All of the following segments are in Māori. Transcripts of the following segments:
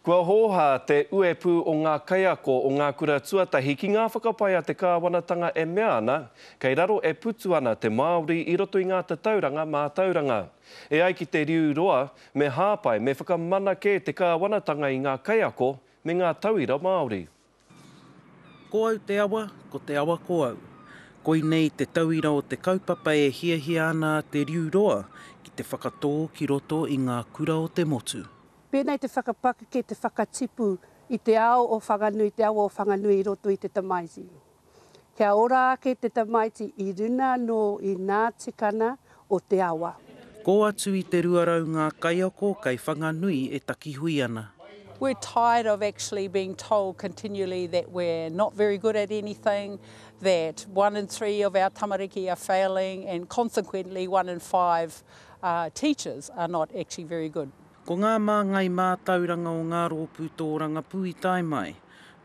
Kua hōhā te uepū o ngā kaiako o ngā kura tuatahi ki ngā whakapae a te kāwanatanga e mea ana, kei raro e putu ana te Māori i roto i ngā tatauranga mātauranga. E ai ki te riu roa, me hāpai, me whakamana kē te kāwanatanga i ngā kaiako me ngā tauira Māori. Ko au te awa, ko te awa ko au. Koinei te tauira o te kaupapa e hiahia ana a Te Riu Roa ki te whakatō ki roto i ngā kura o te motu. Pēnei te whakapakeke, te whakatipu i te ao o Whanganui, te awa o Whanganui i roto i te tamaiti. Kia ora ake te tamaiti i runa anō i nā tikana o te awa. Kō atu i te 200 ngā kaiako kei Whanganui e takihui ana. We're tired of actually being told continually that we're not very good at anything, that one in three of our tamariki are failing and consequently one in five teachers are not actually very good. Ko ngā māngai mātauranga o ngā rōpū tōrangapū i tae mai.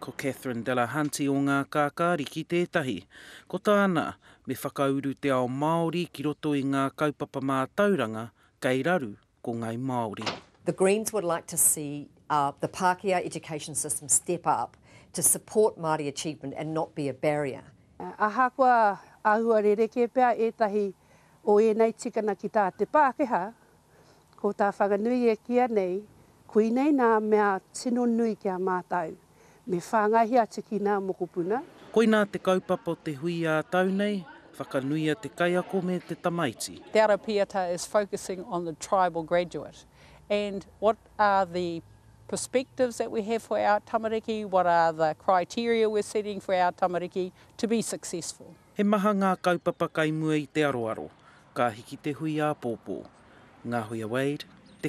Ko Catherine Delahunty o Ngā Kākāriki tētahi. Ko tāna, me whakauru te ao Māori ki roto i ngā kaupapa mātauranga kei raru ko Ngai Māori. The Greens would like to see the Pākehā education system step up to support Māori achievement and not be a barrier. Ahakoa āhua rerekē pea ētahi o ēnei tikanga ki tā te Pākehā, Ko tā Whanganui e kīa nei, koinei nā mea tino nui ki a mātau, me whāngaihia atu ki nā mokopuna. Koinā te kaupapa o te hui ā tau nei, whakanuia te kaiako me te tamaiti. Te Arapiata is focusing on the tribal graduate and what are the perspectives that we have for our tamariki, what are the criteria we're setting for our tamariki to be successful. He maha ngā kaupapa kai mua i te aroaro, ka hiki te hui āpōpō. Ngahuia Wade, te.